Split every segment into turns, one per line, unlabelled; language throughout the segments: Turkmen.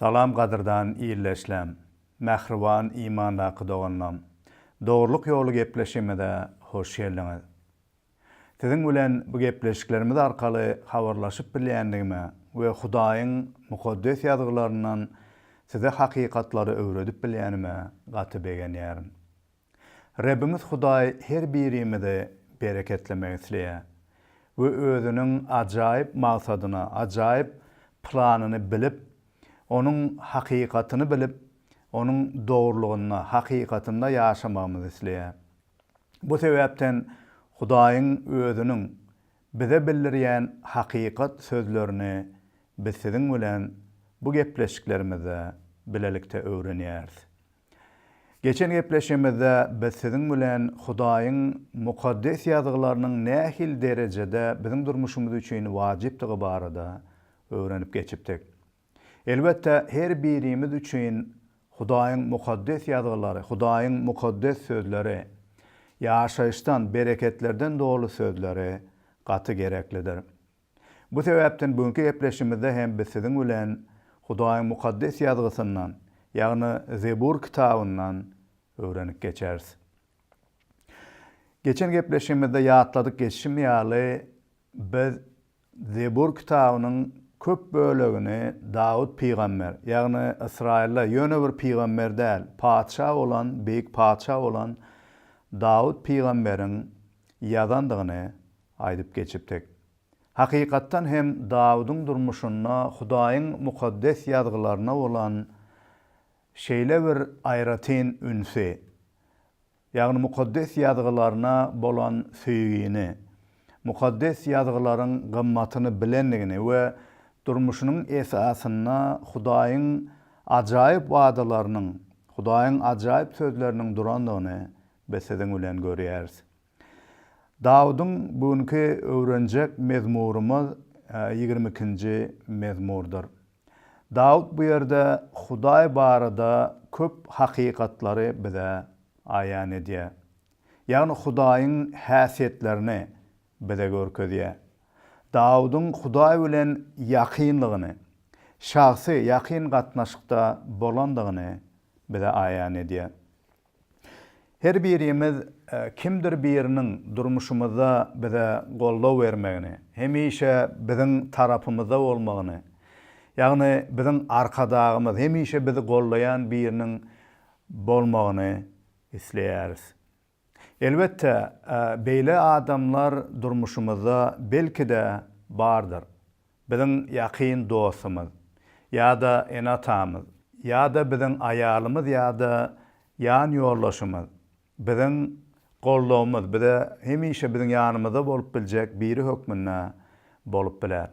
Salam gadyrdan ildeşlem, mähriban imandaky doganlam. Dogrulyk ýoly gepleşigimize hoş geldiňiz. Siziň bilen bu gepleşiklerimiz arkaly habarlaşyp bilýändigime we Hudaýyň Mukaddes Ýazgylaryndan size hakykatlary öwredip bilýänime gaty begenýärin. Rebbiňiz Hudaý her birimizi bereketlemek isleýär we Özüniň ajaýyp maksadyny, ajaýyp planyny bilip, Onuň hakykatyny bilip, Onuň dogrulygynda, hakykatynda ýaşamagymyzy isleýär. Bu sebäpden Hudaýyň Özüniň bize bildirýän hakykat sözlerini biz siziň bilen bu gepleşiklerimizde bilelikde öwrenýäris. Geçen gepleşigimizde biz siziň bilen Hudaýyň Mukaddes Ýazgylarynyň nähili derejede biziň durmuşymyz üçin wajypdygy barada öwrenip geçipdik. Elbetde, her birimiz üçin Hudaýyň Mukaddes Ýazgylary, Hudaýyň mukaddes sözleri, ýaşaýyşdan, bereketlerden doly sözleri gaty gereklidir. Bu sebäpden bu günki gepleşigimizde hem biz siziň bilen Hudaýyň Mukaddes Ýazgysyndan, ýagny Zebur kitabyndan öwrenip geçeris. Geçen gepleşigimizde ýatladyp geçişim ýaly, biz Zebur kitabynyň köp bölegini Dawut pygamber, ýagny Ysraýylda ýöne bir pygamber däl, patyşa bolan, beýik patyşa bolan Dawut pygamberiň ýazandygyny Aýdyp geçipdik. Hakykatdan hem Dawudyň durmuşynda Hudaýyň Mukaddes Ýazgylaryna bolan şeýle bir aýratyn ünsi, ýagny Mukaddes Ýazgylaryna bolan söýgini, Mukaddes Ýazgylaryň gymmatyny bilendigini we durmuşynyň esasynda Hudaýyň ajaýyp wadalarynyň, Hudaýyň ajaýyp sözleriniň durandygyny biz siziň bilen görýäris. Dawudyň bu günki öwrenjek mezmurymyz ýigrimi ikinji mezmurdyr. Dawut bu ýerde Hudaý barada köp hakykatlary bize aýan edýär. Ýagny Hudaýyň häsiýetlerini bize görkezýär. Dawudyň Hudaý bilen ýakynlygyny, şahsy, ýakyn gatnaşykda bolandygyny bize aýan edýär. Her birimiz kimdir biriniň durmuşymyzda bize goldaw bermegini, hemişe biziň tarapymyzda bolmagyny, ýagny biziň Arkadagymyz, hemişe bizi goldaýan biriniň bolmagyny isleýäris. Elbetde, beýle adamlar durmuşymyzda belki-de bardyr. Biziň ýakyn dostumyz ýa-da ene-atamyz ýa-da biziň aýalymyz ýa-da ýan ýoldaşymyz, biziň goldawymyz bize hemişe biziň ýanymyzda bolup biljek biri hökmünde bolup biler.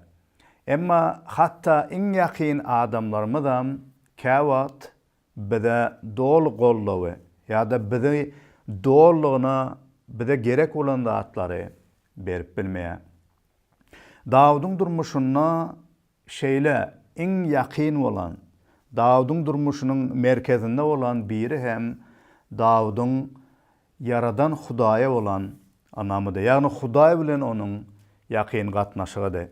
Emma hatda iň ýakyn adamlarymyzam käwagt bize doly goldawy ýa-da bizi dolulygyna bize gerek bolan zatlary berip bilmeýär. Dawudyň durmuşynda şeýle iň ýakyn bolan, Dawudyň durmuşynyň merkezinde bolan biri hem Dawudyň Ýaradan Hudaýa bolan ynamydy, ýagny Hudaý bilen onuň ýakyn gatnaşygydy.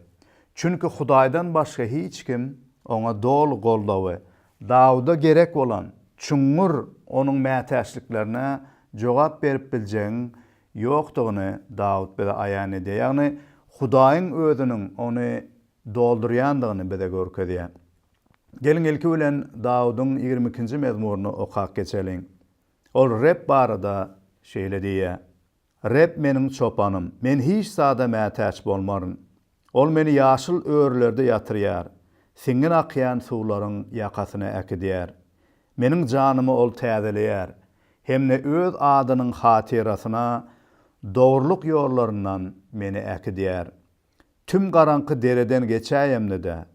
Çünki Hudaýdan başga hiç kim oňa doly goldawy, Dawuda gerek bolan çuňňur onuň mätäçliklerine jogap berip biljegiň ýokdugyny Dawut bize aýan edýär, ýagny Hudaýyň Özüniň ony doldurýandygyny bize görkezýär. Geliň, ilki bilen Dawudyň ýigrimi ikinji mezmuryny okap geçeliň. Ol Reb barada şeýle diýýär, Reb meniň çopanym, men hiç zada mätäç bolmaryn. Ol meni ýaşyl örülerde ýatyrýar, siňňin akýan suwlaryň ýakasyna äkidýär. Meniň janymy ol täzeleýär hem-de öz adynyň hatyrasyna dogrulyk ýollaryndan meni äkidýär. Tüm garaňky dereden geçäýemde-de,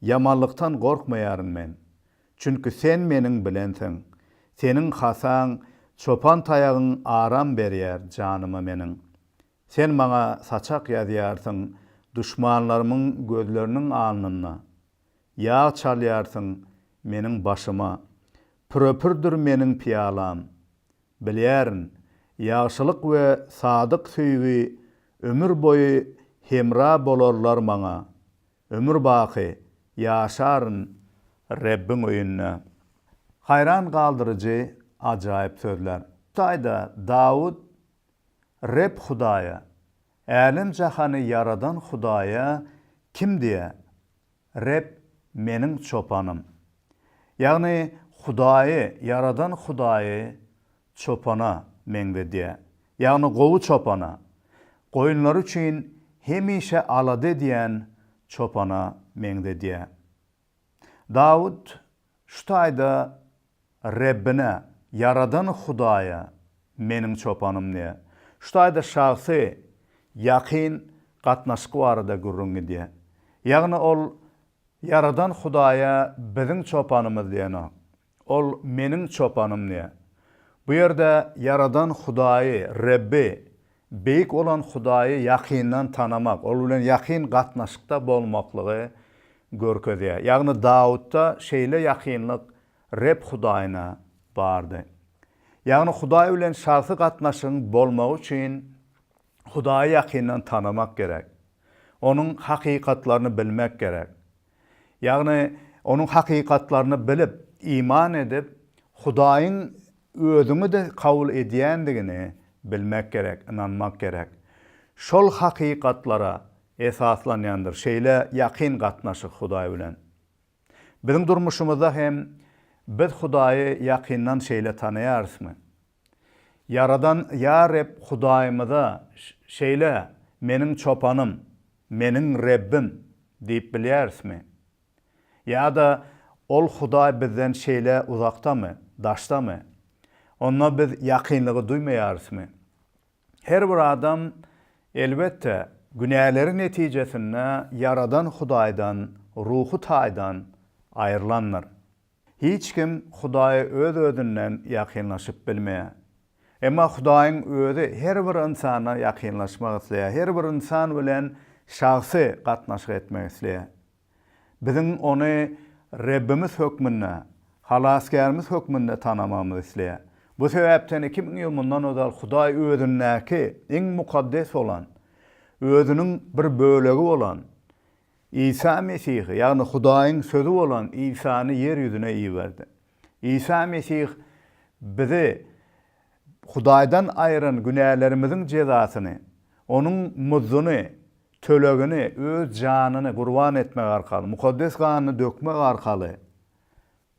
ýamanlykdan gorkmaýaryn men. Çünki Sen meniň bilensiň, Seniň hasaň, çopan taýagyň aram berýär janyma meniň. Sen maňa saçak ýazýarsyň, duşmanlarymyň gözleriniň alnynda, Ýag çalýarsyň meniň başyma. Pürepürdir meniň pyýalam. Bilýärin, ýagşylyk we sadyk söýgi ömür boýy hemra bolarlar maňa, Ömürbaky ýaşaryn Rebbiň öýünde. Haýran galdyryjy ajaýyp sözler. Taýda Dawut Reb Hudaýa, älem-jahany ýaradan Hudaýa kim diýer? Reb meniň çopanym. Ýagny Hudaýy ýaradan Hudaýy çopana meňzedýär, ýagny gowy çopana, goýunlary üçin hemişe alada edýän çopana meňzedýär. Dawut Şu taýda Rebbine, Ýaradan Hudaýa, meniň çopanym diýýär. Şu taýda şahsy, ýakyn gatnaşyk barada gürrüň gidýär. Ýagny ol Ýaradan Hudaýa biziň çopanymyz diýenok. Ol meniň çopanym diýýär. Bu ýerde Ýaradan Hudaýy, Rebbi, Beýik bolan Hudaýy ýakyndan tanamak, ol bilen ýakyn gatnaşykda bolmaklygy görkezýär. Ýagny Dawutda şeýle ýakynlyk Reb Hudaýyna bardy. Ýagny Hudaý bilen şahsy gatnaşygyň bolmagy üçin Hudaýy ýakyndan tanamak gerek. Onuň hakykatlaryny bilmek gerek. Ýagny, onuň hakykatlaryny bilip, iman edip, Hudaýyň Özüňi-de kabul edýändigini bilmek gerek, ynanmak gerek. Şol hakykatlara esaslanýandyr şeýle ýakyn gatnaşyk Hudaý bilen. Biziň durmuşymyzda hem biz Hudaýy ýakyndan şeýle tanaýarysmy? Ýaradan Ýa Reb Hudaýymyza şeýle, Meniň çopanym, meniň Rebbim diýip bilýärismi? Ýa-da ol Hudaý bizden şeýle uzakdamy, daşdamy? Onda biz ýakynlygy duýmaýarysmy? Her bir adam, elbetde, günäleri netijesinde Ýaradan Hudaýdan ruhy taýdan aýrylandyr. Hiç kim Hudaýa öz-özünden ýakynlaşyp bilmeýär. Emma Hudaýyň Özi her bir ynsana ýakynlaşmak isleýär, her bir ynsan bilen şahsy gatnaşyk etmek isleýär. Biziň Ony Rebbimiz hökmünde, Halasgärimiz hökmünde tanamagymyzy isleýär. Bu sebäpden iki müň ýyl mundan ozal Hudaý Özündäki iň mukaddes bolan, Özüniň bir bölegi bolan Isa Mesihi, ýagny Hudaýyň Sözi bolan Isany ýer ýüzüne iberdi. Isa Mesih bizi Hudaýdan aýyran günälerimiziň jezasyny, onuň muzduny, tölegini öz janyny gurban etmek arkaly, mukaddes ganyny dökmek arkaly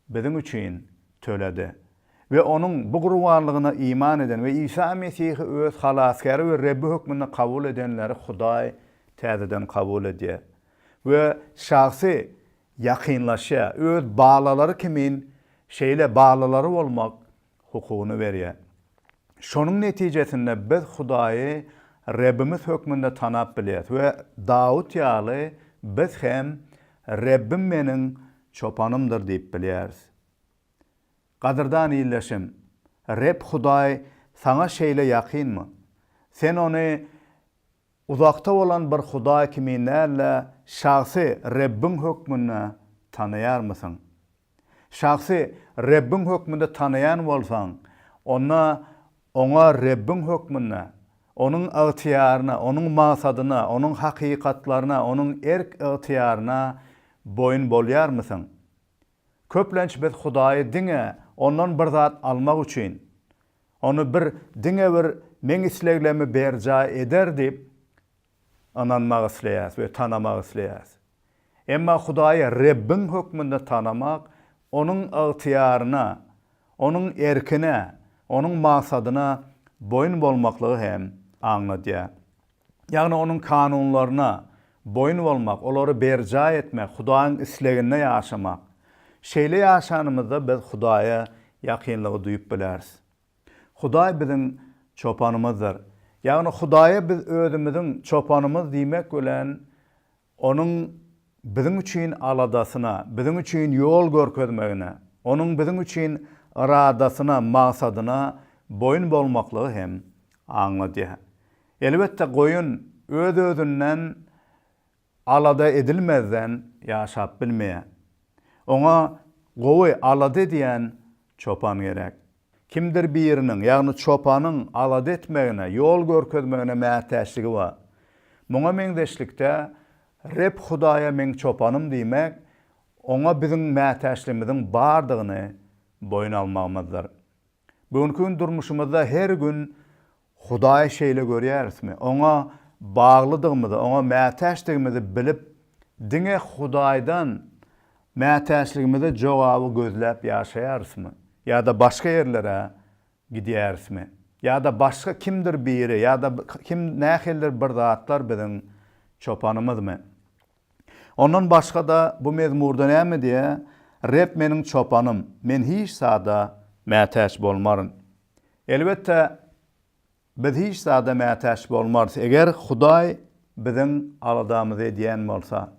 biziň üçin töledi we Onuň bu gurbanlygyna iman eden we Isa Mesihi öz Halasgäri we Rebbi hökmünde kabul edenleri Hudaý täzeden kabul edýär we şahsy ýakynlaşýar. Öz balalary kimin şeýle balalary bolmak hukugyny berýär. Şonuň netijesinde biz Hudaýy Rebbimiz hökmünde tanap bilýäris we Dawut ýaly biz hem Rebbim meniň çopanymdyr diýip bilýäris. Gadyrdan ildeşim, Reb Hudaý saňa şeýle ýakynmy? Sen Ony Uzakda bolan bir Hudaý kimin däl-de, şahsy Rebbiň hökmünde tanaýarmysyň? Şahsy Rebbiň hökmünde tanaýan bolsaň, onda Oňa Rebbiň hökmünde, Onuň ygtyýaryna, Onuň maksadyna, Onuň hakykatlaryna, Onuň erk-ygtyýaryna boýun bolýarmysyň? Köplenç biz Hudaýy diňe Ondan bir zat almak üçin, Ony bir diňe bir meň isleglerimi berjaý eder diýip ynanmak isleýäris we tanamak isleýäris. Emma Hudaýy Rebbiň hökmünde tanamak Onuň ygtyýaryna, Onuň erkine, Onuň maksadyna boýun bolmaklygy hem aňladýar. ýagny Onuň kanunlaryna boýun bolmak, olary berjaý etmek, Hudaýyň isleginde ýaşamak. Şeýle ýaşanymyzda biz Hudaýa ýakynlygy duýup bileris. Hudaý biziň Çopanymyzdyr. Ýagny Hudaýa biz özümiziň Çopanymyz diýmek bilen Onuň biziň üçin aladasyna, biziň üçin ýol görkezmegine, Onuň biziň üçin yradasyna, magsadyna boýun bolmaklygy hem aňladýar. Elbetde, goýun öz-özünden alada edilmezden ýaşap bilmeýär. Oňa gowy alada edýän çopan gerek. Kimdir biriniň, ýagny çopanyň alada etmegine, ýol görkezmegine mätäçligi bar. Muňa meňzeşlikde, Reb Hudaýa Meň çopanym diýmek, Oňa biziň mätäçligimiziň bardygyny boýun almagymyzdyr. Bu günki gün durmuşymyzda her gün Hudaýy şeýle görýärismi? Oňa baglydygymyzy, oňa mätäçdigimizi bilip, diňe Hudaýdan mätäçligimize jogaby gözläp ýaşaýarysmy? Ýa-da başga ýerlere gidýärismi? Ýa-da başga kimdir biri, ýa-da kim nähilidir bir zatlar biziň çopanymyzmy? Ondan başga-da bu mezmurda näme diýýär? Reb meniň çopanym, men hiç zada mätäç bolmaryn. Elbetde, biz hiç zada mätäç bolmarys, eger Hudaý biziň aladamyzy edýän bolsa.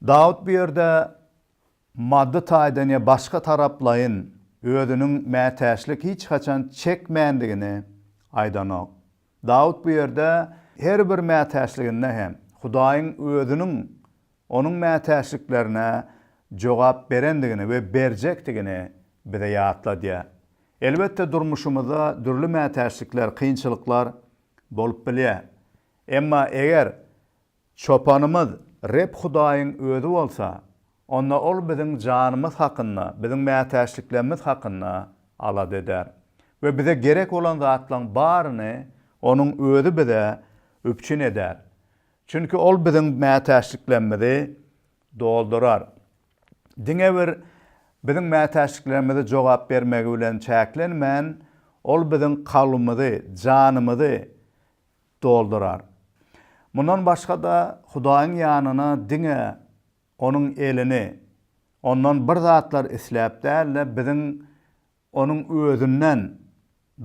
Dawut bu ýerde maddy taýdan ýa başga taraplaýyn özüniň mätäçlik hiç haçan çekmändigini aýdanok. Dawut bu ýerde her bir mätäçliginde hem Hudaýyň Özüniň Onuň mätäçliklerine jogap berendigini we berjekdigini bize ýatladýar. Elbetde, durmuşymyzda dürli mätäçlikler, kynçylyklar bolup bilýär. Emma eger Çopanymyz Reb Hudaýyň Özi bolsa, onda Ol biziň janymyz hakynda, biziň mätäçliklerimiz hakynda alada eder we bize gerek bolan zatlaryň baryny Onuň Özi bize üpjün eder. Çünki Ol biziň mätäçliklerimizi doldurar. Diňe bir biziň mätäçliklerimize jogap bermegi bilen çäklenmän, Ol biziň kalbymyzy, janymyzy doldurar. Mundan başga-da, Hudaýyň ýanyna diňe Onuň elini, Ondan bir zatlar isläp däl-de, biziň Onuň özünden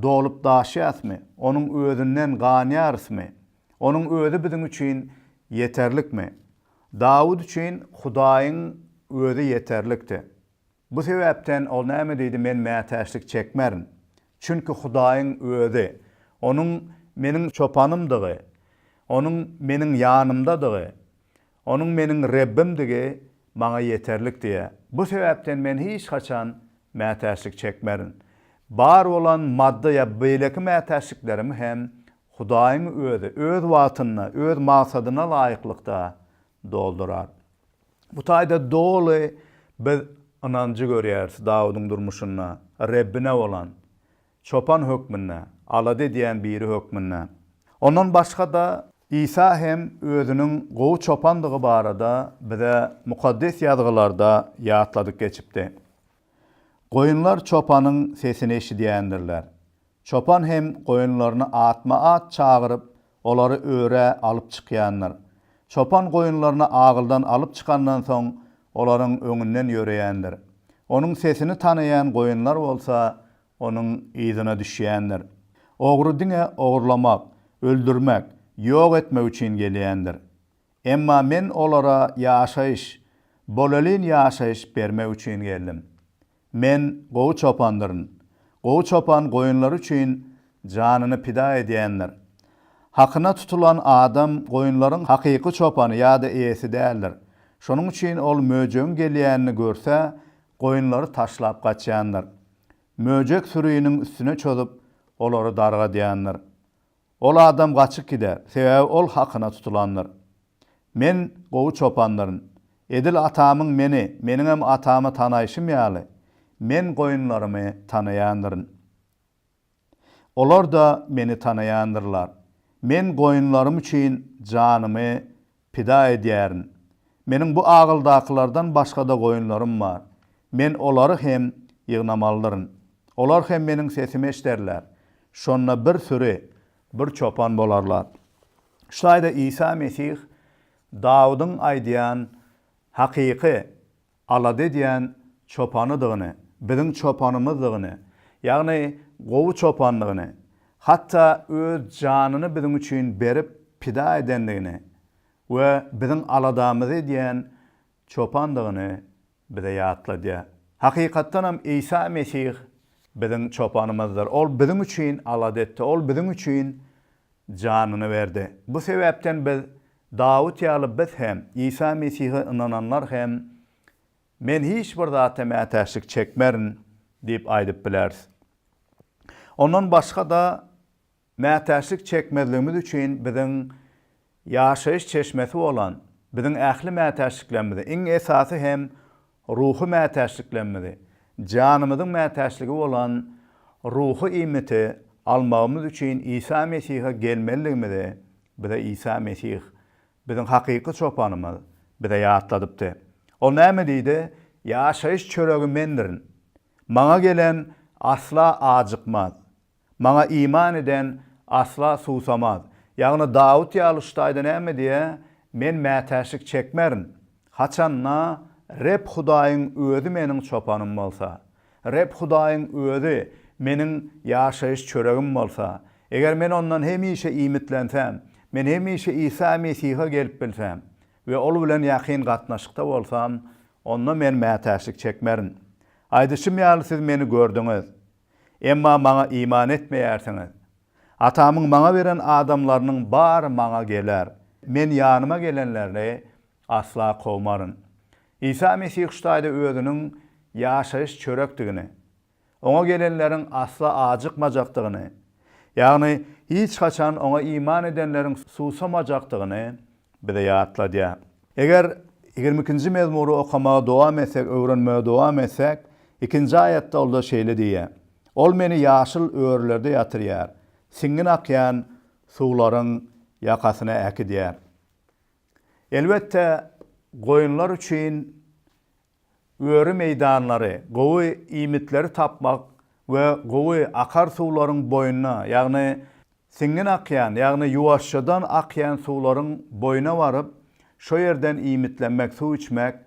dolup daşýasmy? Onuň özünden ganýarysmy? Onuň özi biziň üçin ýeterlikmi? Dawut üçin Hudaýyň özi ýeterlikdi. Bu sebäpden ol näme diýdi, Men mätäçlik çekmerin. Çünki Hudaýyň özi, Onuň meniň çopanymdygy, Onuň meniň ýanymdadygy, Onuň meniň Rebbimdigi maňa ýeterlik diýýär. Bu sebäpden men hiç haçan mätäçlik çekmerin. Bar bolan maddy ýa beýleki mätäçliklerimi hem Hudaýyň Özi Öz wagtynda, Öz maksadyna laýyklykda doldurar. Bu taýda doly biz ynanjy görýäris Dawudyň durmuşynda Rebbine bolan Çopan hökmünde, alada edýän biri hökmünde. Ondan başga-da, Isa hem özüniň gowy çopandygy barada bize Mukaddes Ýazgylarda ýatladyp geçipdi. Goýunlar çopanyň sesini eşidýändirler. Çopan hem goýunlaryny atma-at çagyryp, Olary örä alyp çykýandyr. Çopan goýunlaryny agyldan alyp çykandan soň, olaryň öňünden ýöreýändir. Onuň sesini tanaýan goýunlar bolsa, onuň yzyna düşýändir. Ogry diňe ogurlamak, öldürmek, ýok etmek üçin gelýändir. Emma Men olara ýaşaýyş, bolelin ýaşaýyş bermek üçin geldim. Men gowy çopandyryn. Gowy çopan goýunlary üçin janyny pida edýändir. Hakyna tutulan adam goýunlaryň hakyky çopany ýa-da eýesi däldir. Şonuň üçin ol möjegiň gelýänini görse, goýunlary taşlap gaçýandyr. Möjek sürini üstüne çozup, olary dargadýandyr. Ol adam gaçyp gider, sebäbi ol hakyna tutulandyr. Men gowy çopandyryn. Edil Atamyň Meni, Meniňem Atamy tanaýşym ýaly, Men goýunlarymy tanaýandyryn. Olar-da Meni tanaýandyrlar. Men goýunlarym üçin janymy Pida edýärin. Meniň bu agyldakylardan başga-da goýunlarym bar. Men olary hem ýygnamalydyryn. Olar hem meniň sesimi eşderler. Şonda bir süri, bir çopan bolarlar. Şu taýda Isa Mesih Dawudyň aýdýan hakyky alada edýän çopanydygyny, biziň çopanymyzdygyny, ýagny gowy çopandygyny, hatda öz janyny biziň üçin berip, pida edendigini we biziň aladamyzy edýän çopandygyny bize ýatladýar. Hakykatdanam, Isa Mesih biziň çopanymyzdyr. Ol biziň üçin alada etdi. Ol biziň üçin janyny berdi. Bu sebäpden biz Dawut ýaly biz hem, Isa Mesihe ynananlar hem Men hiç bir zata mätäçlik çekmerin diýip aýdyp bileris. Ondan başga-da, mätäçlik çekmezligimiz üçin biziň ýaşaýyş çeşmesi bolan, biziň ähli mätäçliklerimizi, iň esasy hem Ruhy mätäçliklerimizi, janymyzyň mätäçligi bolan ruhy iýmiti almagymyz üçin Isa Mesihe gelmelidigimizi bize Isa Mesih, biziň hakyky çopanymyz, bize ýatladypdy. Ol näme diýdi? Ýaşaýyş çöregi Mendirin. Maňa gelen asla ajykmaz. Maňa iman eden asla suwsamaz. Ýagny Dawut ýaly şu taýda näme diýýär, Men mätäçlik çekmerin, haçanda Reb Hudaýyň Özi meniň çopanym bolsa. Reb Hudaýyň Özi meniň ýaşaýyş çöregim bolsa. Eger men Ondan hemişe iýmitlensäm, men hemişe Isa Mesihe gelip bilsem we Ol bilen ýakyn gatnaşykda bolsam, onda men mätäçlik çekmerin. Aýdyşym ýaly siz Meni gördüňiz. Emma Maňa iman etmeýärsiňiz. Atamyň Maňa beren adamlarynyň bary Maňa geler. Men ýanyma gelenlerini asla kowmaryn. Isa Mesih şu taýda Özüniň ýaşaýyş çörekdigini, Oňa gelenleriň asla ajykmajakdygyny, ýagny hiç haçan Oňa iman edenleriň suwsamajakdygyny bize ýatladýar. Eger ýigrimi ikinji mezmury okamaga dowam etsek, öwrenmegi dowam etsek, ikinji aýatda Ol-da şeýle diýýär, Ol Meni ýaşyl örülerde ýatyrýar, siňňin akýan suwlaryň ýakasyna äkidýär. Elbetde, goýunlar üçin öri meýdanlary, gowy iýmitleri tapmak we gowy akar suwlaryň boýuna, ýagny siňňin akýan, ýagny ýuwaşjadan akýan suwlaryň boýuna baryp, şo ýerden iýmitlenmek, suw içmek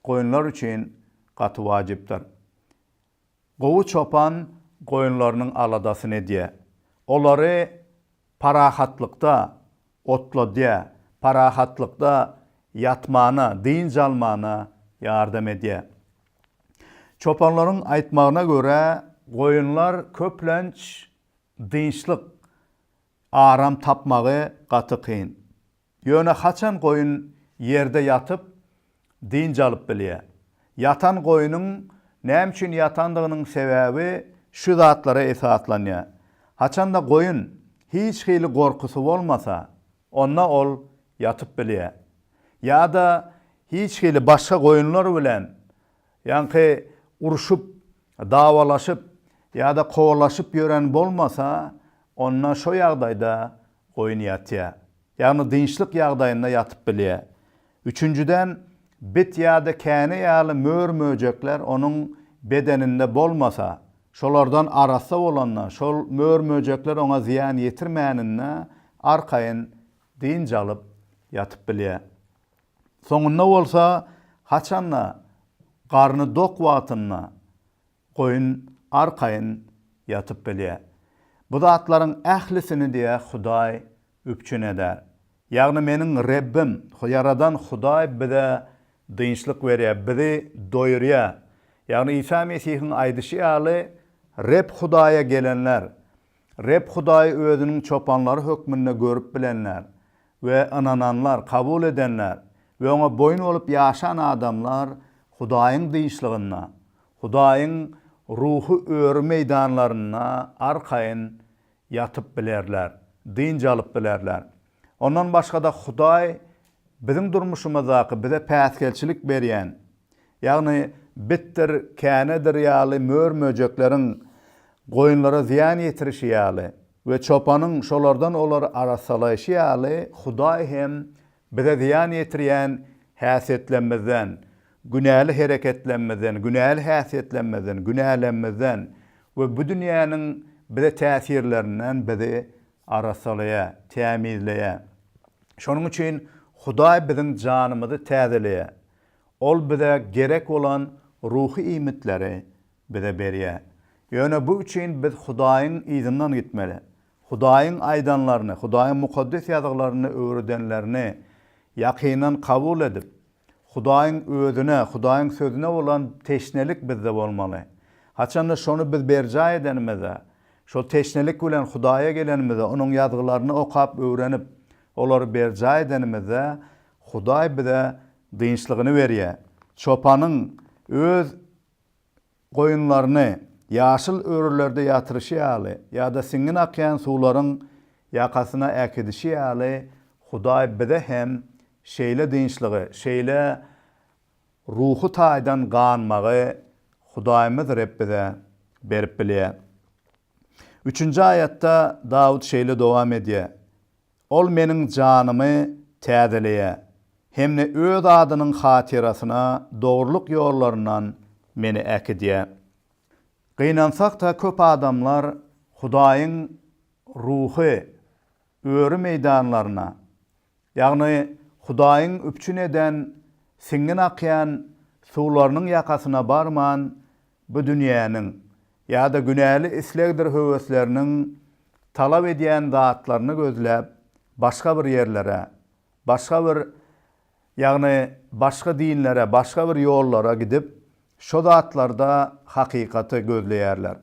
goýunlar üçin gaty wajypdyr. Gowy çopan goýunlarynyň aladasyny edýär. Olary parahatlykda otladýar, parahatlykda ýatmana, dynç almana ýardam edýär. Çopanlaryň aýtmagyna görä, goýunlar köplenç dynçlyk, aram tapmagy gaty kyn. Ýöne haçan goýun ýerde ýatyp, dynç alyp bilýär? Ýatan goýnuň näme üçin ýatandygynyň sebäbi şu zatlara esaslanýar. Haçanda goýun hiç hili gorkusy bolmasa, onda ol ýatyp bilýär. Ýa-da hiç hili başga goýunlar bilen Ýaňky urşup, dawalaşyp ýa-da kowalaşyp ýören bolmasa, onda şo ýagdaýda goýun ýatýar. Ýagny dynçlyk ýagdaýynda ýatyp bilýär. Üçünjiden, bit ýa-da käne ýaly mör-möjekler onuň bedeninde bolmasa, şolardan arassa bolanda, şol mör-möjekler oňa zyýan ýetirmäninde arkaýyn dynç alyp ýatyp bilýär. Soňunda bolsa haçan-da garny dok wagtynda goýun arkaýyn ýatyp bilýär. Bu zatlaryň ählisini diýe Hudaý üpjün eder. Ýagny meniň Rebbim, Ýaradan Hudaý bize dynçlyk berýär, bizi doýurýar. Ýagny Isa Mesihiň aýdyşy ýaly, Reb Hudaýa gelenler Reb Hudaýy Özüniň çopanlary hökmünde görüp bilenler we ynananlar, kabul edenler we Oňa boýun bolup ýaşan adamlar Hudaýyň dyşlygynda, Hudaýyň ruhy öri meýdanlarynda arkaýyn ýatyp bilerler, dynç alyp bilerler. Ondan başga-da Hudaý biziň durmuşymyzdaky bize päsgelçilik berýän, ýagny bitdir, känedir ýaly mör-möjekleriň goýunlara zyýan ýetirişi ýaly we çopanyň şolardan olary arassalaýşy ýaly Hudaý hem bize zyýan ýetirýän häsiýetlerimizden, günäli hereketlerimizden, günäli häsiýetlerimizden, günälerimizden we bu dünýäniň bize täsirlerinden bizi Arassalaýar, tämizleýär. Şonuň üçin Hudaý biziň janymyzy täzeleýär. Ol bize gerek bolan ruhy iýmitleri bize berýär. Ýöne bu üçin biz Hudaýyň yzyndan gitmeli. Hudaýyň aýdanlaryny, Hudaýyň Mukaddes Ýazgylarynda öwredenlerini ýakyndan kabul edip, Hudaýyň Özüne, Hudaýyň Sözüne bolan teşnelik bizde bolmaly. Haçanda şony biz berjaý edenimizde, şol teşnelik bilen Hudaýa gelenimizde, Onuň Ýazgylaryny okap öwrenip, olary berjaý edenimizde, Hudaý bize dynçlygyny berýär. Çopanyň öz. Goýunlaryny ýaşyl örülerde ýatyryşy ýaly ýa-da siňňin akýan suwlaryň ýakasyna äkidişi ýaly Hudaý bize hem şeýle dynçlygy, şeýle ruhy taýdan ganmagy Hudaýymyz Reb bize berip bilýär. Üçünji aýatda Dawut şeýle dowam edýär, Ol meniň janymy täzeleýä hem-de Öz adynyň hatyrasyna dogrulyk ýollaryndan meni äkidýä. Gynansak-da köp adamlar Hudaýyň Ruhy öri meýdanlaryna, ýagny Hudaýyň üpjün eden siňňin akýan suwlarynyň ýakasyna barman, Bu dünýäniň ýa-da günäli islegdir höwesleriniň talap edýän zatlaryny gözläp, başga bir ýerlere, başga bir, ýagny başga dinlere, başga bir ýollara gidip, şo zatlarda hakykaty gözleýärler.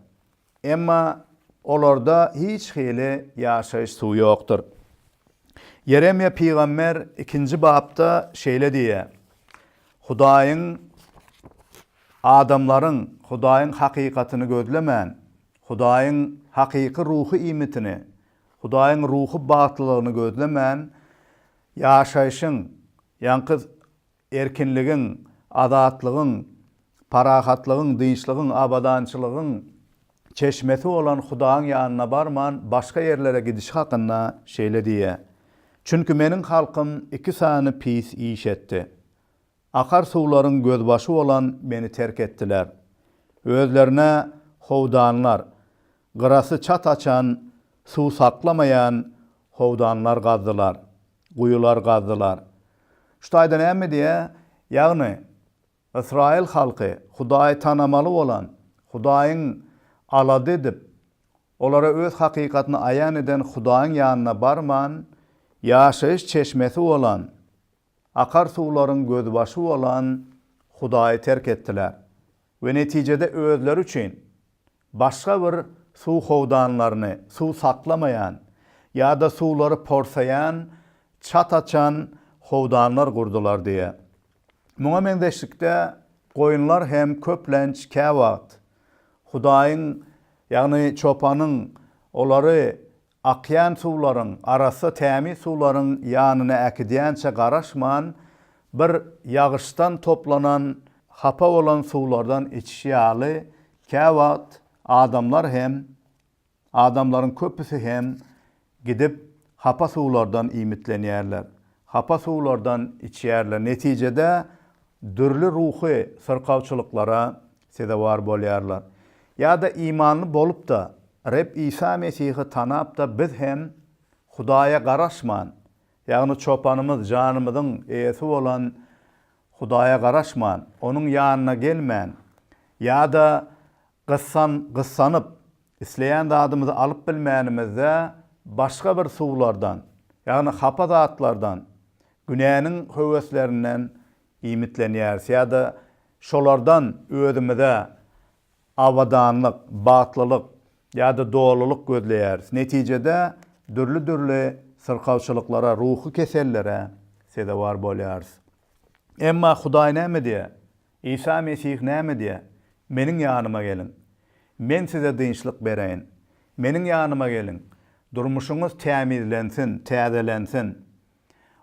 Emma olarda hiç hili ýaşaýyş suwy ýokdur. Ýeremýa pygamber ikinji bapda şeýle diýýär, Hudaýyň adamlaryň Hudaýyň hakykatyny gözlemän, Hudaýyň hakyky ruhy iýmitini, Hudaýyň ruhy bagtlylygyny gözlemän, ýaşaýşyň, ýaňky erkinligiň, azatlygyň, parahatlygyň, dynçlygyň, abadançylygyň çeşmesi bolan Hudaýyň ýanyna barman, başga ýerlere gidişi hakynda şeýle diýýär, Çünki meniň halkym iki sany pis iş etdi. Akar suwlaryň gözbaşy bolan meni terk etdiler. Özlerine howdanlar, gyrasy çat açan, suw saklamaýan howdanlar gazdylar. Guýular gazdylar. Şu taýda näme diýýär? Ýagny, ysraýyl halky Hudaýy tanamaly bolan, Hudaýyň alada edip, olara öz hakykatyny aýan eden Hudaýyň ýanyna barman, ýaşaýyş çeşmesi bolan, akar suwlaryň gözbaşy bolan Hudaýy terk etdiler we netijede özleri üçin Başga bir suw howdanlaryny suw saklamaýan ýa-da suwlary porsaýan çat açan howdanlar gurdular diýýär. Muňa meňzeşlikde goýunlar hem köplenç käwagt Hudaýyň, ýagny çopanyň olary Akýan suwlaryň, arassa tämiz suwlaryň ýanyna äkidýänçä garaşman, bir ýagyşdan toplanan, hapa bolan suwlardan içiş ýaly, käwagt adamlar hem, adamlaryň köpüsi hem gidip hapa suwlardan iýmitlenýärler, hapa suwlardan içýärler, netijede dürli ruhy syrkawçylyklara sezewar bolýarlar. Ýa-da imanly bolup-da, Reb Isa Mesihi tanap-da biz hem Hudaýa garaşman, ýagny Çopanymyz, janymyzyň eýesi bolan Hudaýa garaşman, Onuň ýanyna gelmän, ýa-da gyssan, gyssanyp, isleýän zadymyzy alyp bilmänimizde başga bir suwlardan, ýagny hapa zatlardan, günäniň höweslerinden Iýmitlenýäris ýa-da şolardan özümize abadanlyk, bagtlylyk ýa-da dolulyk gözleýäris. Netijede dürli-dürli syrkawçylyklara, ruhy kesellere sezewar bolýarys. Emma Hudaý näme diýýär? Isa Mesih näme diýýär? Meniň ýanyma geliň. Men size dynçlyk bereýin. Meniň ýanyma geliň. Durmuşyňyz tämizlensin, täzelensin.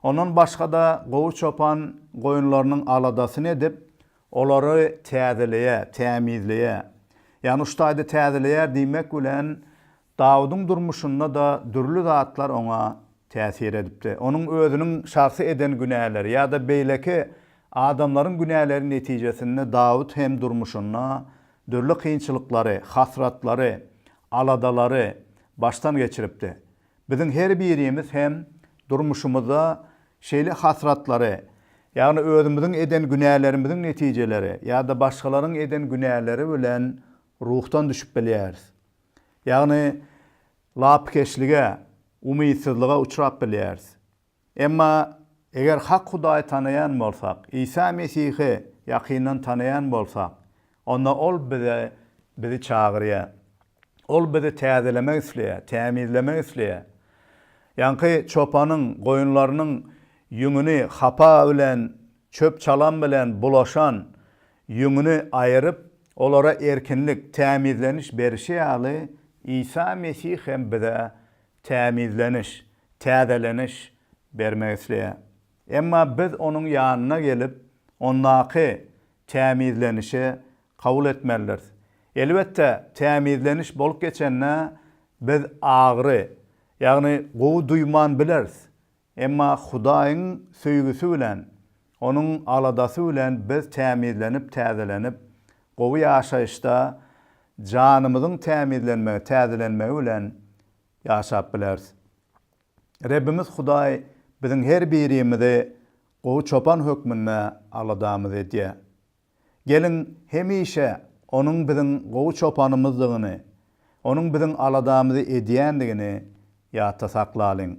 Ondan başga-da gowy çopan goýunlarynyň aladasyny edip, olary täzeleýär, tämizleýär. Ýagny şu taýda täzeleýär diýmek bilen, Dawudyň durmuşynda-da dürli zatlar oňa täsir edipdi. Onuň özüniň şahsy eden günäleri ýa-da beýleki adamlaryň günäleri netijesinde Dawut hem durmuşynda dürli kynçylyklary, hasratlary, aladalary başdan geçiripdi. Biziň her birimiz hem durmuşymyzda şeýle hasratlary, ýagny özümiziň eden günälerimiziň netijeleri ýa-da başgalaryň eden günäleri bilen ruhdan düşüp bilýäris. Ýagny lapykeçlige, umytsyzlyga uçrap bilýäris. Emma eger hak Hudaýy tanaýan bolsak, Isa Mesihi ýakyndan tanaýan bolsak, onda Ol bize bizi çagyrýar. Ol bizi täzelemek isleýär, tämizlemek isleýär. Ýaňky çopanyň goýunlarynyň ýüňüni hapa bilen, çöp-çalam bilen bulaşan ýüňüni aýyryp, olara erkinlik, tämizleniş berişi ýaly, Isa Mesih hem bize tämizleniş, täzeleniş bermek isleýär. Emma biz onuň ýanyna gelip, ondaky tämizlenişi kabul etmelidiris. Elbetde, tämizleniş bolup geçende biz agyry, ýagny gowy duýman bileris. Emma Hudaýyň söýgüsi bilen, Onuň aladasy bilen biz tämizlenip, täzelenip, gowy ýaşaýyşda janymyzyň tämizlenmegi, täzelenmegi bilen ýaşap bileris. Rebbimiz Hudaý biziň her birimizi gowy çopan hökmünde aladamyzy edýär. Geliň, hemişe Onuň biziň gowy çopanymyzdygyny, Onuň biziň aladamyzy edýändigini ýatda saklalyň.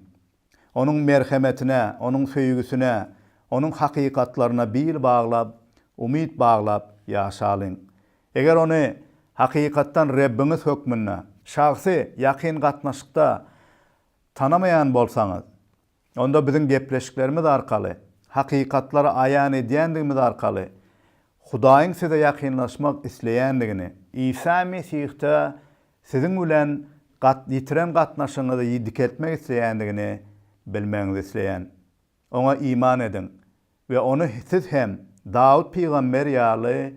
Onuň merhemetine, Onuň söýgüsine, Onuň hakykatlaryna bil baglap, umyt baglap ýaşalyň. Eger Ony hakykatdan Rebbiňiz hökmünde, şahsy, ýakyn gatnaşykda tanamaýan bolsaňyz, Onda biziň gepleşiklerimiz arkaly, hakykatlary aýan edýändigimiz arkaly Hudaýyň size ýakynlaşmak isleýändigini, Isa Mesihde siziň bilen ýitiren gatnaşygyňyzy dikeltmek isleýändigini bilmegiňizi isleýän. Oňa iman ediň we Ony siz hem Dawut pygamber ýaly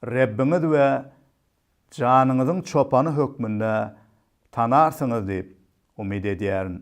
Rebbiňiz we janyňyzyň çopany hökmünde tanarsyňyz diýip umyt edýärin.